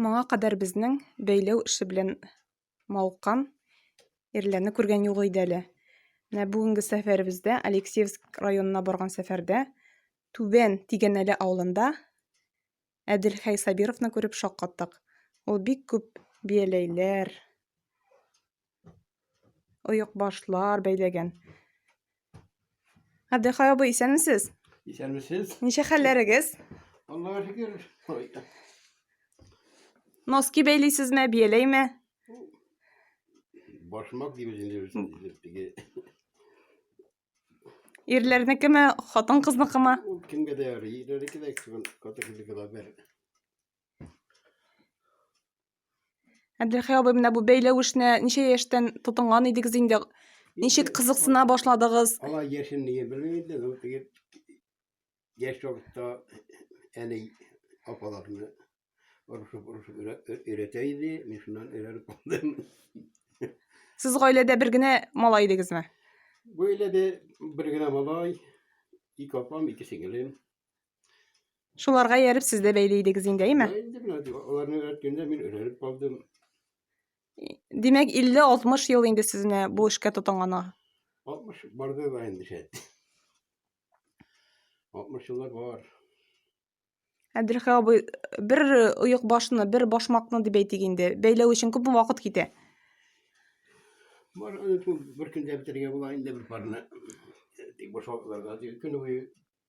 Моңа кадәр безнең бәйләү эше белән мавыккан ирләрне күргән юк иде әле. Менә бүгенге сәфәребездә, Алексеевск районына барган сәфәрдә, Түбән Тигәнәле авылында Әдилхәй Сабировны күреп шаккаттык. Ул бик күп бияләйләр, Оек башлар бәйләгән. Абдыхай абый, исәнмесез? Исәнмесез. Ничә хәлләрегез? Аллага шөкер. Носки бәйлисезме, бияләйме? Башмак дибез инде теге. Ирләрнекеме, хатын-кызныкымы? Ул кемгә дә ярый. Ирләрнеке дә кем, хатын-кызныкы да бер. Әбделхәй абый, менә бу бәйләү эшенә ничә яшьтән тотынган идегез инде? Ничек кызыксына башладыгыз? Ала яшен нигә белмим инде, ну теге яшь вакытта әни апаларны урышып урышып өйрәтә иде, мин шуннан өйрәнеп калдым. Сез гаиләдә бер генә малай идегезме? Гаиләдә бер генә малай, ике апам, ике сеңелем. Шуларга ияреп сез дә бәйле идегез инде, әйме? Инде менә аларны өйрәткәндә мин өйрәнеп калдым. Димәк, 50-60 ел инде сез менә бу эшкә тотынган. 60 барды да инде шәт. 60 еллар бар. Әбделхәй абый, бер оек башны, бер башмакны дип әйтик инде, бәйләү өчен күпме вакыт китә? Бар, аны шул бер көндә бетерергә була инде бер парны. Тик башмакларга көн буе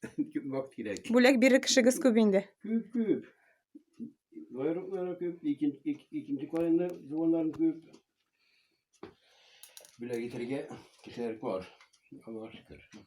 Күп вакыт кирәк. Бүләк бирер кешегез күп инде. Күп, күп. Байраклары күп, икенче икенче калында туганнарым күп. Бүләк итәргә кешеләр бар. Аллаһка шөкер.